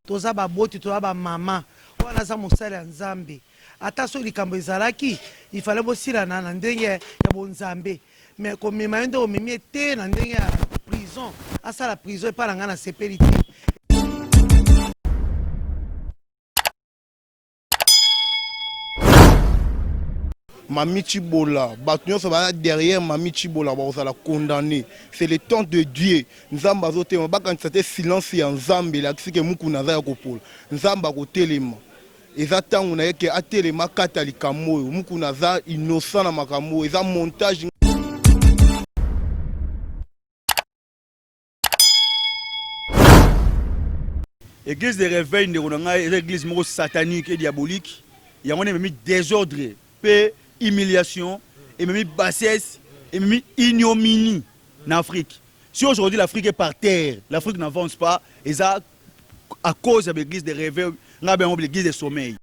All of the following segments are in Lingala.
toza baboti toza bamama wana aza mosali ya nzambe ata soki likambo ezalaki ifale bosilana na ndenge ya bonzambe me komema ye nde omemi ye te na ndenge ya prison asala prison epai na ngai nasepeli te Mami Chibola, bato nyonso baya derrière Mami Chibola bakozala condamné. C'est le temps de Dieu. Nzambe azotelema, bakanisa te silence ya Nzambe elakisi ke mukuna aza ya kopola. Nzambe akotelema. Eza tango na ye ke atelema akata likambo oyo. Mukuna aza innocent na makambo oyo. Eza montage. Église de réveil ndeko na ngai eza église moko satanique et diabolique yango wana ememi désordre mpe humiliation ememi bassesse ememi ignominie na afrique si aujourd'hui l'afrique est par terre l'afrique n'avance pas eza à cause ya baeglise de réveil ngai bayango baeglise de sommeil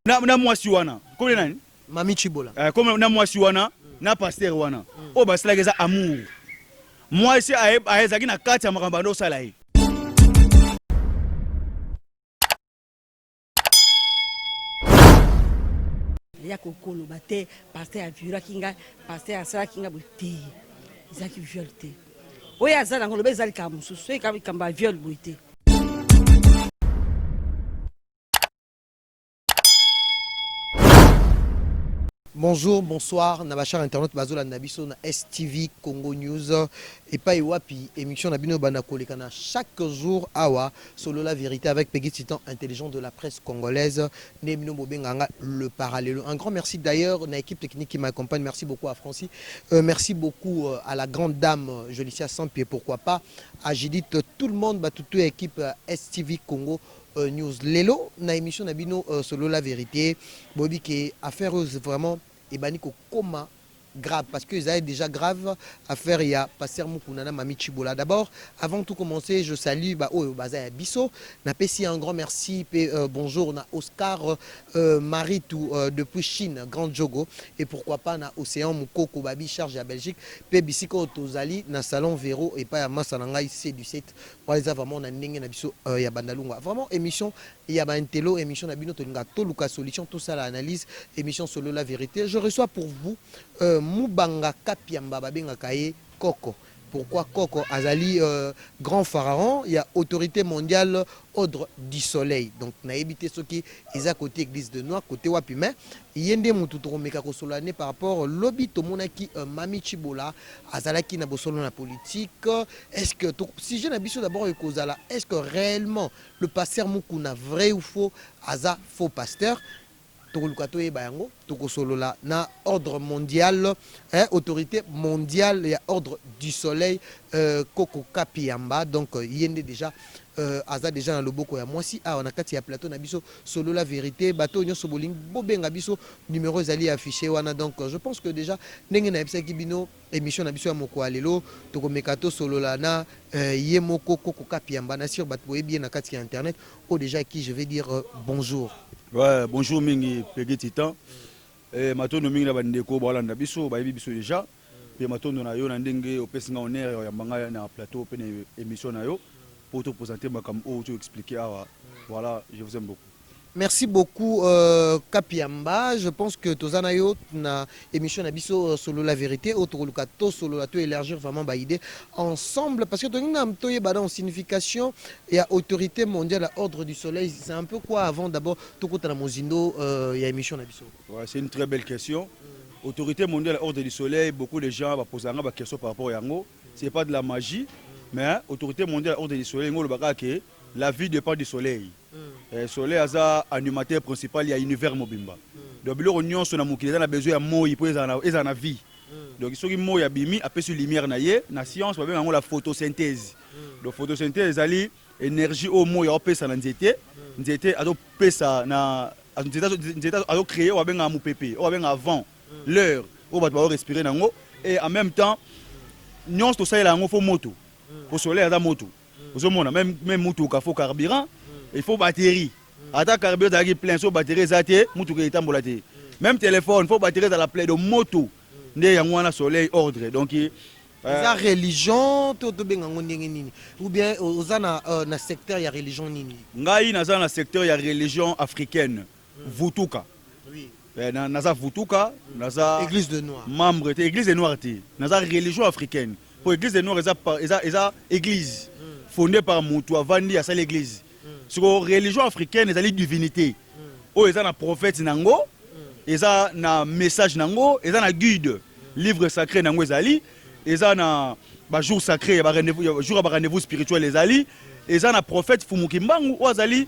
na, na mwasi wana kome nani mami chibola eh, kome na mwasi wana mm. na pasteur wana mm. oyo basalaki eza amour mwasi ayezaki na kati ya makambo banda osala ye ya kokoloba te pasteur aviolaki ngai pasteur asalaki ngai boye te ezalaki viole te Oyo aza nango loba eza likambo mosusu, soki kaka likambo ya viol boye te. Bonjour, bonsoir, na ba chers internautes bazolanda biso na STV Congo News epai wapi émission na bino banda kolekana chaque jour awa solo la vérité avec Peggy Titan intelligent de la presse congolaise nde bino bobenga nga le parallelo un grand merci d'ailleurs na équipe technique qui m'accompagne merci beaucoup à Francis euh, merci beaucoup euh, à la grande dame euh, Jolicia Sampi et pourquoi pas à Judith tout le monde bato tout ya équipe euh, STV Congo euh, News lelo na émission na bino euh, solo la vérité boyebi ke affaire oyo vraiment ebandi kokoma grave parce que ezali déjà grave affaire ya pasteur Mukuna na Mami Chibola. D'abord, avant tout commencer, je salue ba oyo baza ya biso. Na pesi un grand merci pe euh, bonjour na Oscar euh, Maritou euh, depuis Chine, Grand Jogo et pourquoi pas na Océan Mukoko Babi charge ya Belgique pe bisiko tozali na salon Vero et pas ya masa na ngai C17 Wana eza vraiment na ndenge na biso euh, ya bandalungwa vraiment emission ya ba intello emission na bino tolinga toluka solution tosala analyse emission solo la verite je reçois pour vous euh, mubanga kapiamba babengaka ye koko pourquoi koko azali euh, grand pharaon ya autorité mondiale ordre du soleil donc nayebi te soki eza kote église de noir kote wapi mais ye nde motu tokomeka kosolola ne par rapport lobi tomonaki euh, mami chibola azalaki na bosolo na politique Est ce que sujet na biso d'abord ekozala est ce que réellement le pasteur Mukuna vrai ou faux aza faux pasteur tokoluka toyeba yango tokosolola na ordre mondial eh, autorité mondiale ya ordre du soleil euh, koko kapiyamba donc euh, ye nde déjà euh, aza déjà na loboko ya mwasi awa na kati ya plateau na biso solola verité bato oyo nyonso bolingi bobenga biso numero ezali affiché wana donc euh, je pense que déjà ndenge nayebisaki bino Emission na biso ya moko'a lelo tokomeka to solola na ye moko Koko Kapiamba na sur bato boyebi ye na kati ya internet oyo dejà qui je vais dire bonjour. Ouais, bonjour mingi Peggy Titan. Eh, matondo mingi na bandeko balanda biso bayebi biso deja mpe matondo na yo na ndenge opesi nga honneur ya koyamba ngai na plateau mpe na émission na yo mpo topresente makambo oyo toexplike awa voilà je vous aime beaucoup Merci beaucoup euh, Kapiamba. Je pense que toza na yo na émission na biso euh, solo la vérité au tokoluka to solo la to élargir vraiment ba idée ensemble parce que to nina to yeba dans signification et à autorité mondiale à ordre du soleil c'est un peu quoi avant d'abord to kota na mozindo euh, ya émission na biso. Ouais, c'est une très belle question. Mm. Autorité mondiale à ordre du soleil, beaucoup de gens va poser la question par rapport à yango. C'est pas de la magie, mais autorité mondiale à ordre du soleil ngolo bakake la vie dépend du soleil. Eh, Soleil aza animateur principal ya univers mobimba. Donc biloko nyonso na mokili eza na besoin ya moi mpo ezala na- ezala na vie. Donc soki moi abimi apesi lumière na ye na science babenga yango la photosynthèse. Donc photosynthèse ezali énergie oyo moi aopesa na nzete, nzete azopesa na azo- nzete azo- nzete azo- azocree oyo babengaka mopepe oyo babengaka vent l'heure oyo bato baorespire na yango et en même temps nyonso tosalela yango fo moto po soleil aza moto ozo mona même même mutuka faut carburant il faut batterie ata carburant ezalaki plein so batterie eza te mutuka etambola te même téléphone faut batterie ezala plein donc moto nde yango wana soleil ordre donc euh, eza religion to tobenga yango ndenge nini ou bien oza na, euh, na secteur ya religion nini ngai naza na secteur ya religion africaine Vutuka. Eh, na, naza vutuka naza église de noir membre te église de noir te naza religion africaine po église de noir eza eza eza église mm. fondée par mutu avandi asali église mm. siko religion africaine ezali divinité mm. oyo eza na prophète nango mm. eza na message nango eza na guide mm. livre sacré nango ezali mm. eza na ba jour sacré ya ba rendez-vous jour ya ba rendez-vous spirituel ezali mm. eza na prophète Fumukimbangu oyo azali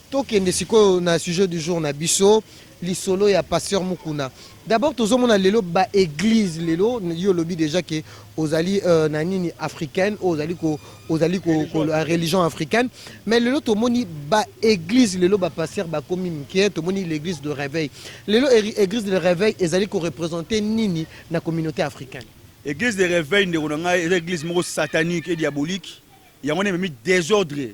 Tokende sikoyo na sujet du jour na biso lisolo ya pasteur Mukuna. D'abord tozomona lelo ba église lelo yo lobi déjà que ozali euh, na nini africaine ou ozali ko ozali ko, ko la religion africaine mais lelo tomoni ba église lelo ba pasteur bakomi mike tomoni l'église de réveil. Lelo église de réveil ezali ko représenter nini na communauté africaine. Église de réveil ndeko na ngai eza église moko satanique et diabolique. Yango nde memi désordre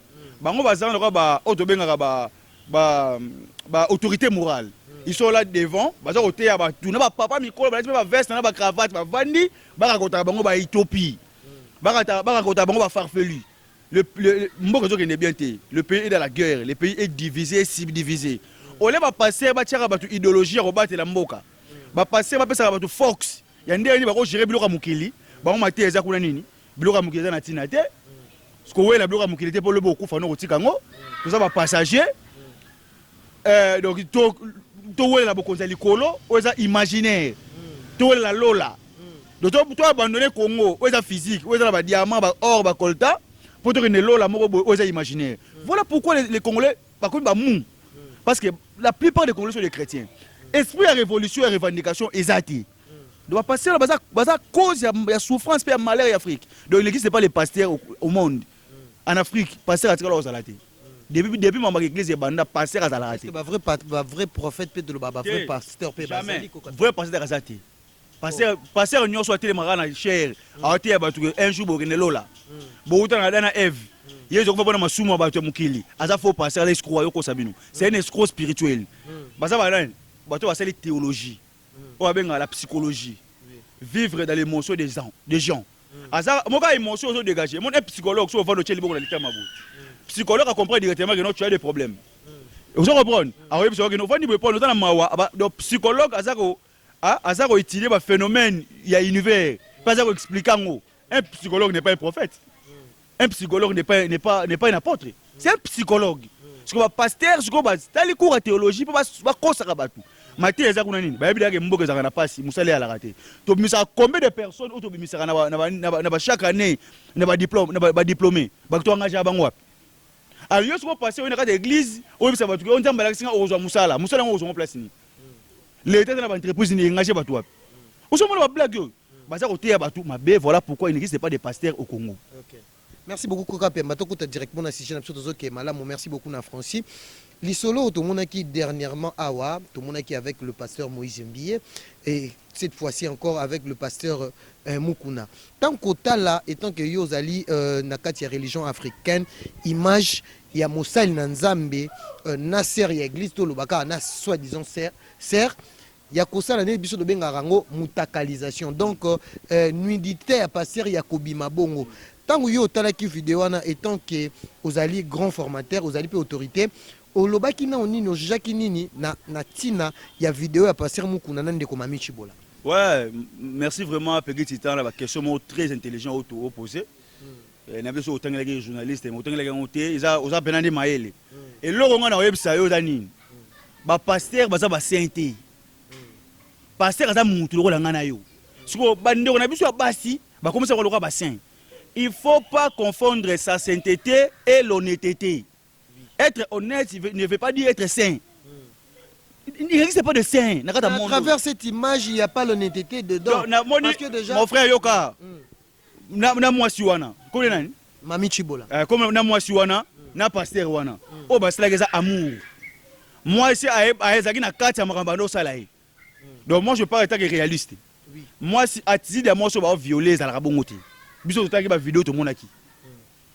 bango baza wana lokola ba oyo tobengaka ba ba ba autorité morale ils sont là devant baza koteya batu na ba papa mikolo balati mpe ba veste na ba cravate bavandi bakakotaka bango ba ethiopie bakata- bakakotaka bango ba farfelu le, le, le- mboka ezokende bien te le pays est dans la guerre le pays est divisé et subdivisé ole bapaster batiaka bato idéologie ya kobatela mboka bapaster bapesaka bato force ya ndenge nini bakogere biloko ya mokili bango mateya eza kuna nini Biloko ya mokili eza na ntina te. Kowela biloko ya mokili te mpo lobi okufa no kotika yango. Toza ba passager. Eh, donc to towelela bokonzi ya likolo oyo eza imaginaire. Towelela lola. Donc to, to abandonner Congo oyo eza physique, oyo eza na ba diamants, ba or, ba coltan mpo tokende lola moko boye oyo eza imaginaire. Voilà pourquoi les, les Congolais bakomi ba mou. Parce que la plupart des Congolais sont des chrétiens. Esprit ya révolution ya revendication eza te. Donc ba pasteurs baza baza cause ya, ya souffrance pe ya malheur ya Afrique. Donc il n'existe pas les pasteurs au, au monde. En Afrique, pasteur atikala kozala te. Depuis depuis mama l'église ebanda pasteur azala te. Ba vrai ba vrai prophète pe toloba ba vrai pasteur pe bazali ko vrai pasteur aza te. Pasteur oh. pasteur nyoso atelemaka na chair, mm. awate ya batu un jour bokende lola. Mm. Bowuta na dana Eve. Mm. Yesu akofa pona masumu ya batu ya mokili. Aza faux pasteur, ala escroc yo kosa bino. C'est un escroc spirituel. Baza ba nani? Bato basali théologie. oyo abengaka la psychologie vivre dans l'emotion des gens des gens aza moka emotion ozo dégager mon psychologue so ovando tcheli boko na litama boye psychologue a comprendre directement que non tu as des problèmes ozo comprendre akoyebi soki no vandi boye pona oza na mawa donc psychologue aza ko aza ko étudier ba phénomène ya univers pas aza ko expliquer ngo un psychologue n'est pas un prophète Un psychologue n'est pas, n'est pas, n'est pas un apôtre. C'est un psychologue. Siko ba pasteur siko ba tali cours ya théologie pe ba ba kosaka batu. Mate eza kuna nini? Bayebi dake mboka ezaka na pasi, musala ya lakate. To bimisaka combien de personnes oto bimisaka na ba na ba na ba, na ba chaque année na ba diplôme na ba, ba diplômés. Ba to engagea bango wapi? Alors yo siko pasteur oyo na kati ya église, oyo bisa batu ke nzambe alakisi nga okozwa musala. Musala ngo okozwa ngo place nini? L'etat na ba entreprises ni engagea batu wapi? Ozo mona ba blague oyo? Baza koteya batu mabe voilà pourquoi il n'existe pas des pasteurs au Congo. Okay. Merci beaucoup Koka Pemba tokota directement na sujet na biso tozo ke malamu merci beaucoup na Francis. Lisolo tomonaki dernièrement awa tomonaki avec le pasteur Moïse Mbiye et cette fois-ci encore avec le pasteur euh, Mukuna. Tant kotala étant que yo ozali euh, na kati ya religion africaine image ya mosali na Nzambe euh, na sœur ya église tolobaka na soi-disant sœur sœur ya kosala neti biso tobengaka yango mutakalisation donc euh, nudite ya pasteur ya kobima bongo ntango yo otalaki video wana etant ke ozali grand formateur ozali mpe autorité olobaki nao nini ojujaki nini na, na ntina ya video ya pasteur mukuna na ndeko mami chibola ouais merci vraiment pegi titan na baquestion moko très intelligent oyo toopose Eh, na biso otangelaki journaliste mais otangelaki yango te eza oza pena nde mayele eloko ngai nakoyebisa yo eza nini bapastere baza basaint te pastere aza mutu lokola ngai na yo sikoyo bandeko na biso ya basi bakomisa yango lokola basaint il faut pas confondre sa sainteté et l'honnêteté être honnête ne veut pas dire être saint il n'existe pas de saint na kati ya monde à travers cette image il n'y a pas l'honnêteté dedans Donc, na moni, parce que déjà mon frère yoka mm. na, na mwasi wana kole nani mami chibola eh, comme na mwasi wana mm. na pasteur wana mm. oyo basalaki eza amour mwasi ezalaki na kati ya makambo banda osala ye mm. donc moi je parle etake réaliste oui. mwasi attitude ya mwasi oyo baoviole ezalaka bongo te biso totalaki bavideo tomonaki mm.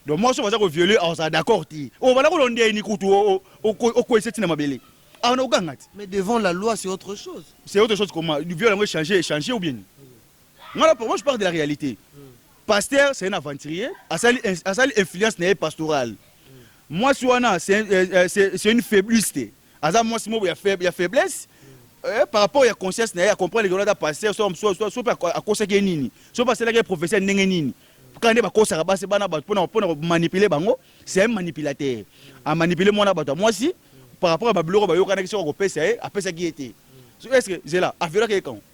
donc mwasi oyo baza koviole azala d'accord te oyo oh, banda kolondia ye ni kutu okwesa ntina mabele awa na oganga te mais devant la loi c'est autre chose c'est autre chose comment viole yango echange echange ou bien Nga na moi je parle de la realite. Pasteur c'est un aventurier, asali asali influence na ye pastoral. Mwasi wana c'est euh, euh, c'est c'est une faibliste. Aza mwasi moko ya faible ya faiblesse. Euh, par rapport ya conscience na ye, a comprendre que wana ata pasteur soit soit soit soit akosaki ye nini, soit asalaki ye professeur ndenge nini. Kaka nde bakosaka basi bana bato pona pona manipuler bango, c'est un manipulateur. A manipuler mwana bato ya mwasi par rapport ya babiloko bayokanaki soki akopesa ye, apesaki ye te. So, est-ce que zela aviolaki ye quand?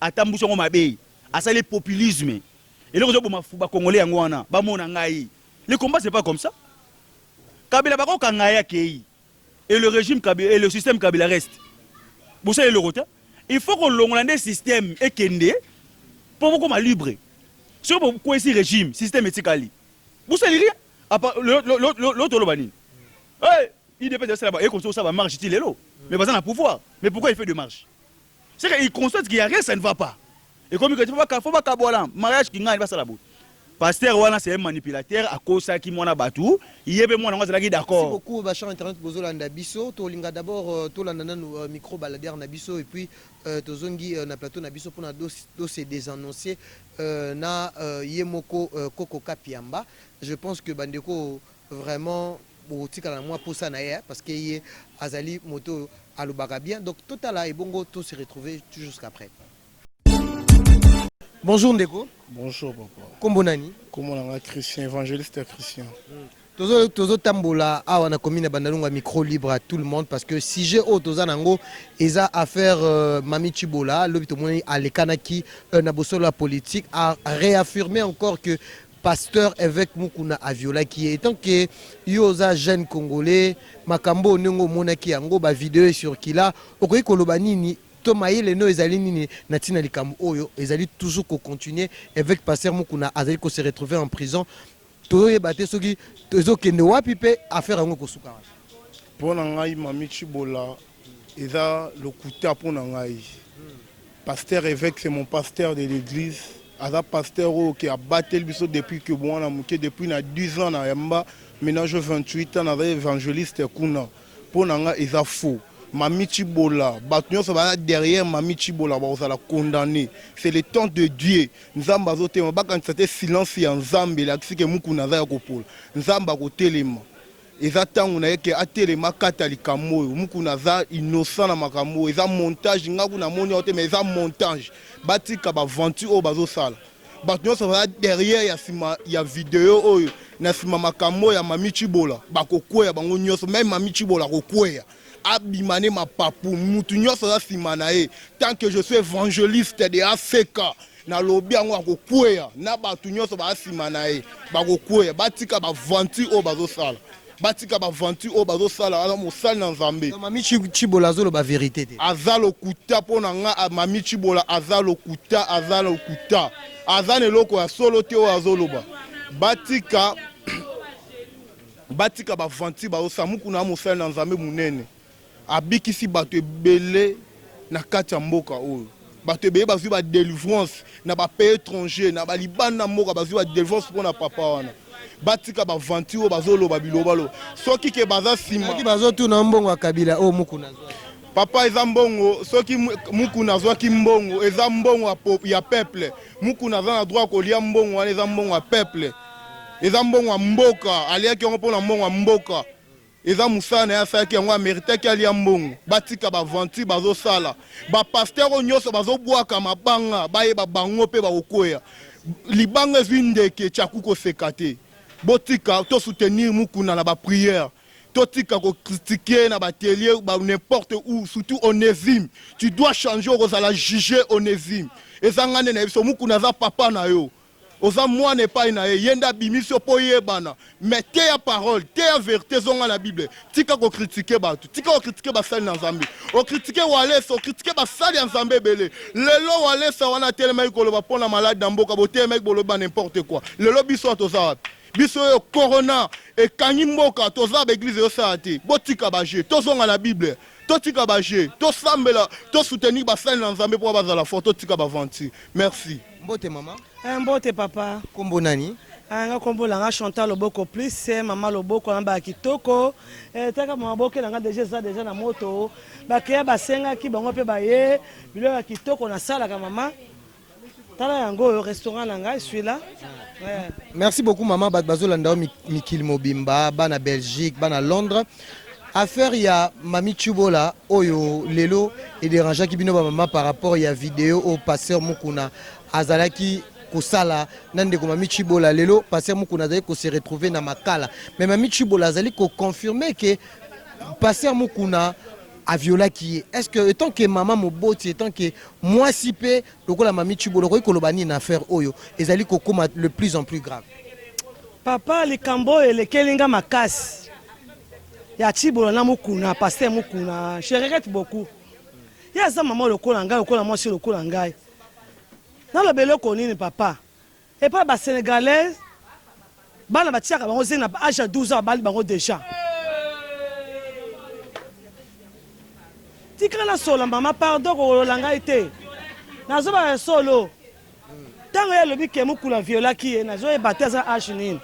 Atambusi yango mabe asali populisme eloko ezo boma ba congolais yango wana ba mona ngai le combat c'est pas comme ça kabila bako kanga ye akeyi et le régime kabila et le système kabila reste bosala eloko te il faut kolongola nde système ekende mpo bokoma libre soki bokwesi régime système etikali bosali rien apa lelo toloba nini idps asala ba ekonso osala ba marche ti lelo mais baza na pouvoir mais pourquoi il fait de marche C'est que il constate qu'il y a rien, ça ne va pas. Et comme il faut faut pas kabola, mariage qui gagne, va ça la boue. Pasteur wana c'est un manipulateur, akosaki mwana batu, yebe mwana ngo azalaki Merci d'accord. beaucoup ba chers internet bozolanda biso tolinga d'abord euh, tolanda nanu euh, micro baladere na biso et puis euh, tozongi euh, na plateau na biso mpona dos- dose desannonce euh, na euh, ye moko euh, koko kapiamba je pense que bandeko Vraiment bokotikala na mwa posa na ye hein, parce que ye azali moto oyo alobaka bien donc totala ebongo to se retrouver jusqu'après. Bonjour ndeko. Bonjour papa. Kombo nani? Kombo nanga Christian, evangeliste Christian. Hmm. Tozo tozo tambola awa na commune Bandalunga micro libre à tout le monde parce que sujet oyo toza nango eza affaire euh, Mami Chibola lobi tomoni alekanaki euh, na bosolo ya politique a réaffirmer encore que pasteur evêque mukuna aviolaki ye etant que yo oza jeune congolais makambo oyo ndenge omonaki yango bavideo ecircula okoki koloba nini to mayele no ezali nini na ntina likambo oyo ezali toujours kocontinue evêque pasteur mukuna azali kose retrouver en prison tozoyeba te soki ezokende wapi mpe affaire yango ekosuka wapi mpo na ngai mami chibola Eza lokuta mpo na ngai. Pasteur Eveque c'est mon pasteur de l'église. Aza pasteur oyo ke abateli biso depuis que mwana moke depuis na 10 ans na yamba maintenant je 28 ans naza evangeliste kuna. Mpo na ngai eza faux. Mami Chibola, bato nyonso baza derrière Mami Chibola bakozala condamne. C'est le temps de Dieu. Nzambe azotelema. Bakanisa te silence ya Nzambe elakisi ke Mukuna aza ya kopola. Nzambe akotelema. Eza tango na ye ke atelema akata likambo oyo. Mukuna aza innocent na makambo oyo. Eza montage, nga kuna namoni yango te mais eza montage. Batika ba aventure oyo bazo sala. Batu nionso baza derrière ya sima ya video oyo, na sima makambo oyo ya Mami Tshibola, bako kweya bango nionso. Meme Mami Tshibola ako kweya. abima ne mapapu mutu nyonso aza nsima na ye tant que je suis evangeliste de ACK nalobi yango akokweya na bato nyonso baa nsima na ye bakokweya batika baventure oyo bazosala batika baventure oyo bazosala aza mosali na nzambe mami chibola azoloba verite te aza lokuta mpo na nga mami chibola aza lokuta aza lokuta aza na eloko ya solo te oyo azoloba batika Batika ba aventure ba osa mukuna ya mosali na nzambe munene abikisi batu ebele na kati ya mboka oyo batu ebele bazwi ba delivrance na ba pays étranger na ba libanda mboka bazwi ba delivrance mpona papa wana batika ba aventure oyo bazoloba bilobaloba soki ke baza nsima Soki bazotuna mbongo ya Kabila oyo Mukuna azwaki. Papa eza mbongo soki mu- mukuna azwaki mbongo eza mbongo ya po- ya peuple mukuna aza na droit ya kolia mbongo wana eza mbongo ya peuple eza mbongo ya mboka aliaki yango mpona mbongo ya mboka eza mosala na ye asalaki yango ameritaki alia mbongo batika baventure bazosala bapaster oyo nyonso bazobwaka mabanga bayeba bango mpe bakokweya libanga ezwi ndeke chaku koseka te botika tosoutenir mukuna na bapriere totika kokritike na batelie n'importe où surtout onésime tu dois changer okozala juge onésime eza ngai nde na ye biso mukuna aza papa na yo Oza mwana epai na ye, ye nde abimisi yo po oyebana. Mais teya parole, teya verite, zonga na bible. Tika ko critiquer batu, tika ko critiquer basali na Nzambe. O critiquer Walesa, o critiquer basali ya Nzambe ebele. Lelo Walesa wana atelemaki koloba po na malade na mboka, botelemaki bolobi ba n'importe quoi. Lelo biso awa toza wapi? Biso oyo corona ekangi mboka, toza na ba eglise ezo sala te. Botika ba jeux, tozonga na bible. Totika ba jeux, tosambela, to soutenir basali na Nzambe po bazala fort, totika ba aventure. Merci. Mbote mama. Eh, mbote papa. Kombo nani? Ah, nga kombo na nga Chantal Loboko plus eh, mama Loboko na ba kitoko eh, taka maboke na nga deja eza deja na moto bakeya basengaki bango mpe baye biloko ya kitoko nasalaka mama tala yango oyo restaurant na ngai swila merci beaucoup mama bato bazolanda yo mikili mobimba bana belgique bana londres Affaire ya Mami Tshibola oyo lelo e derangeaki bino ba mama par rapport ya video oyo Pasteur Mukuna azalaki kosala na ndeko Mami Tshibola. Lelo Pasteur Mukuna azali ko se retrouver na Makala. Mais Mami Tshibola azali ko confirmer que Pasteur Mukuna a violaki ye. Est-ce que étant que mama moboti étant que mwasi pe lokola Mami Tshibola okoki koloba nini na affaire oyo ezali kokoma le plus en plus grave? Papa likambo oyo elekeli nga makasi. ya Tshibola na Mukuna, pasteur Mukuna, je regrette beaucoup. Ye aza mama lokola ngai, lokola mwasi lokola ngai. Naloba eloko nini papa? Epa ba Senegalais bana batiaka bango zina na age ya 12 ans babali bango deja. Tika na sola mama, pardon kolola ngai te. Nazoba ya solo. Tango ye alobi ke Mukuna a violaki ye nazo yeba te aza age nini?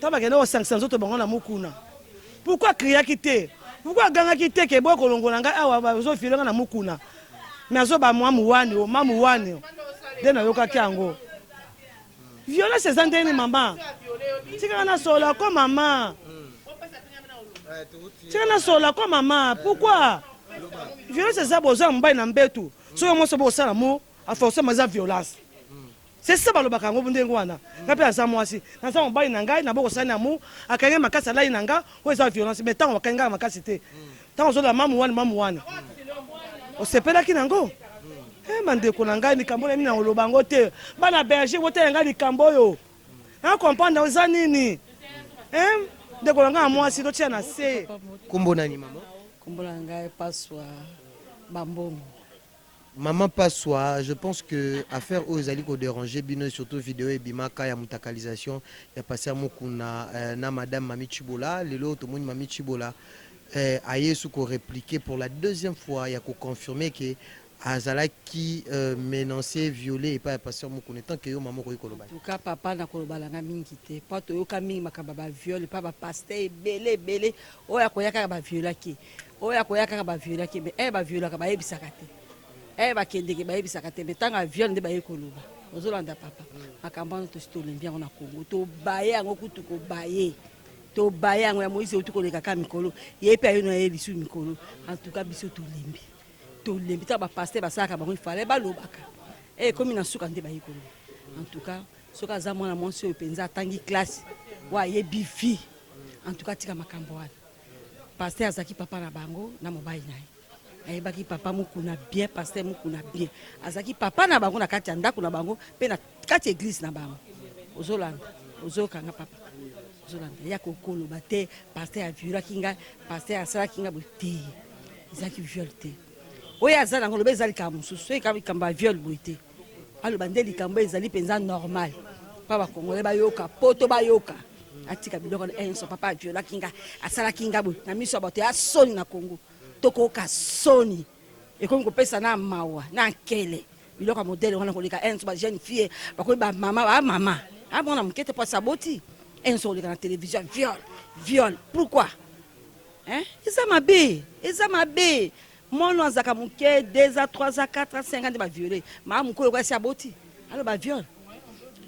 Tango bakendaki kosangisa nzoto bango na Mukuna pourquoi a criaki te? Pourquoi agangaki te ke boya kolongola ngai awa bazo violer ngai na Mukuna mais azo ba mamu wani o mamu wani o nde nayokaki yango. Violence eza ndenge nini mama? Tika ngai nasolola ko mama. Tika nasolola ko mama pourquoi? Violence eza boza mobali na mbetu soki yo mwasi oboyi kosala mo A forcement eza violence. C'est ça balobaka yango ndenge wana. Nga pe naza mwasi, naza mobali na ngai na boko sani amour, akangi ngai makasi alali na nga, oyo eza violence mais tango akangi nga makasi te. Tango ozo lela mamu wana mamu wana. Osepelaki na ngo? Eh ma ndeko na ngai likambo na mina oloba ngo te. Bana berger botela nga likambo oyo. Na comprendre na eza nini? Eh ndeko na nga mwasi totia na se. Kombo nani maman? Kombo na ngai Paswa Bambongo. Maman Paswa, je pense que affaire oyo ezali ko deranger bino et surtout video ebimaka ya mutakalisation ya Pasteur Mukuna euh, na Madame Mami Tshibola. Lelo tomoni Mami Tshibola euh, aye su ko repliquer pour la deuxième fois ya ko confirmer que azalaki euh, menance viole epai ya Pasteur Mukuna. Tant que yo maman okoki koloba. En tout cas, papa na koloba na nga mingi te. Po toyoka mingi makambo ya ba viol pa ba pasteur ebele ebele oyo akoya kaka ba violaki. oyo akoya kaka ba viole akende eh ba viole kaka bayebisaka te eh bakendeke bayebisaka te mais tanga viole nde baye koloba ozolanda papa makambo wana tosi tolembi yango na kongo tobaye yango kutu kobaye tobaye yango ya moise euti koleka ka mikolo ye mpe ayo na ye lisu mikolo antuka biso tolembi tolembi ntango bapaster basalaka bango ifale balobaka eh, ekomi na suka nde baye koloba antuka soki aza mwana mwasi oyo mpenza atangi klase wa ayebi vie antuka atika makambo wana Pasteur azalaki papa na bango na mobali na ye ayebaki papa mukuna bien pasteur mukuna bien azalaki papa na bango na kati ya ndako na bango mpe na kati ya eglise na bango ozolanda ozokanga papa ozolanda ya kokoloba te pasteur aviolaki ngai pasteur asalaki ngai boye te ezalaki viole te oyo aza nango loba eza likambo mosusu oyo likambo ya viole boye te Aloba nde likambo ezali penza normal. Pa ba Congolais bayoka, poto bayoka. Atika biloko na enso papa aviolaki nga, asalaki nga boye na miso ya bato ya soni na Congo. Tokoyoka soni. Ekomi kopesa na mawa, na nkele. Biloko ya modele wana koleka enso ba jeune fille, bakomi ba mama, ba mama. Ah mwana moke te po asaboti. Enso koleka na television viol, viol. Pourquoi? Hein? Eza mabe, eza mabe. Mono azaka muke deux a trois a quatre a cinq a nde ba viole maa mukolo kwa si aboti alo ba viole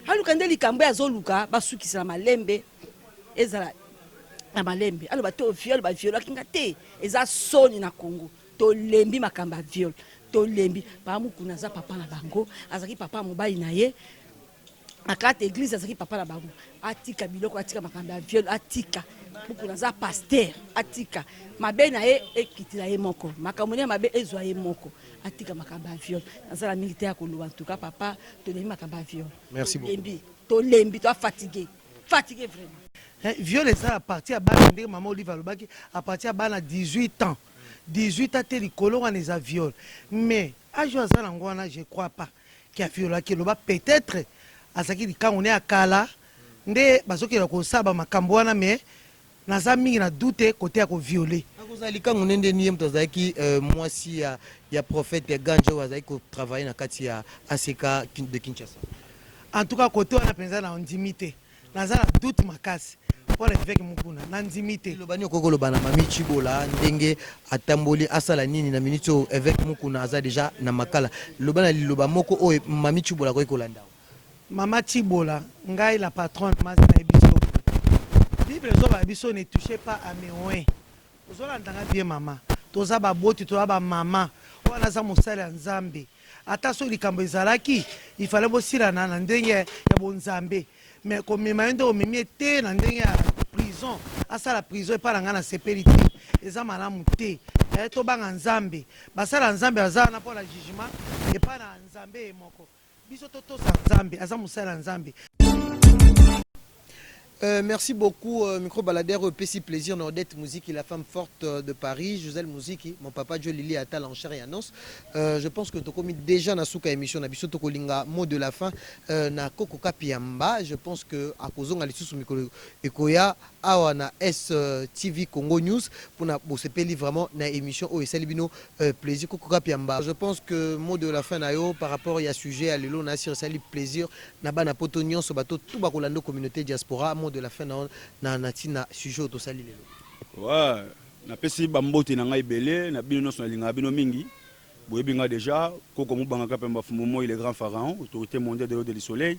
aluka nde likambo ye azoluka basukisa na malembe ezala na malembe aloba to viole ba violaki nga te eza soni na Congo tolembi makambo ya viole tolembi baa mukuna aza papa na bango azalaki papa mobali na ye na kati ya eglise azalaki papa na bango atika biloko atika makambo ya viol atika buku naza paster atika mabe na ye ekitila ye moko makambo nde ya mabe ezwa ye moko atika makambo ya viol naza na mingi te ya koloba ntuka papa tolembi makambo ya viol Merci beaucoup. tolembi tolembi toa fatigue fatigue vraiment Eh, viol eza à partir ya bana ndenge mama olive alobaki à partir ya bana 18 ans 18 ans te likolo wana eza viol mais age oyo aza nango wana je crois pas Ki afiola ki eloba peut etre azalaki likangu naye ya kala nde bazokela kosala ba makambu wana mais naza mingi na doute cote ya ko viole. Akozala likangu ne ndeni ye mutu azalaki mwasi ya ya prophete Gange oyo azalaki ko travailler na kati ya ACK de Kinshasa. En tout cas cote wana penza na ndimi te. naza na doute makasi mpo na eveke mokuna nandimi te eloba nini okoki koloba na mami cibola ndenge atamboli asala nini na miniti oyo eveke mokuna aza deja na makala loba na liloba moko oyo mami cibola akoki kolanda mama cibola ngai la patronne masi na ye biso bible ezobala biso ne touche pas à mes Ozolanda nga bien maman toza ba boti toza ba maman oyo naza mosali ya nzambe ata soki likambo ezalaki il fallait bosilana na ndenge ya bonzambe mais komema ye nde omemi ye te na ndenge ya prison asala prison epa na nga na sepeli te eza malamu te eh, tobanga nzambe basala nzambe baza wana mpo na jugement epa na nzambe ye moko Biso to tosa Nzambe aza mosali ya Nzambe. Euh, merci beaucoup euh, micro baladeur oyo epesi plaisir na odette muziki la femme forte euh, de paris josel muziki mon papa jo lili atala en chair et en os euh, je pense que tokomi déjà na suka émission na biso tokolinga mot de la fin euh, na koko kapiamba je pense que akozonga lisusu mikolo ekoya awa na STV Congo News pona bosepeli vraiment na emission oyo esali bino plaisir Koko Kapiamba je pense que mot de la fin na yo par rapport ya sujet ya lelo na sur esali plaisir na bana poto nionso ba to tout ba kolanda communauté diaspora mot de la fin na yo na na tina sujet oyo tosali lelo. Ouais na pesi ba mbote na ngai ebele na bino nionso na lingaka bino mingi boyebi nga dejà Koko Mubanga Kapiamba Fumbu Moyi le grand pharaon autorité mondiale de l'eau de le soleil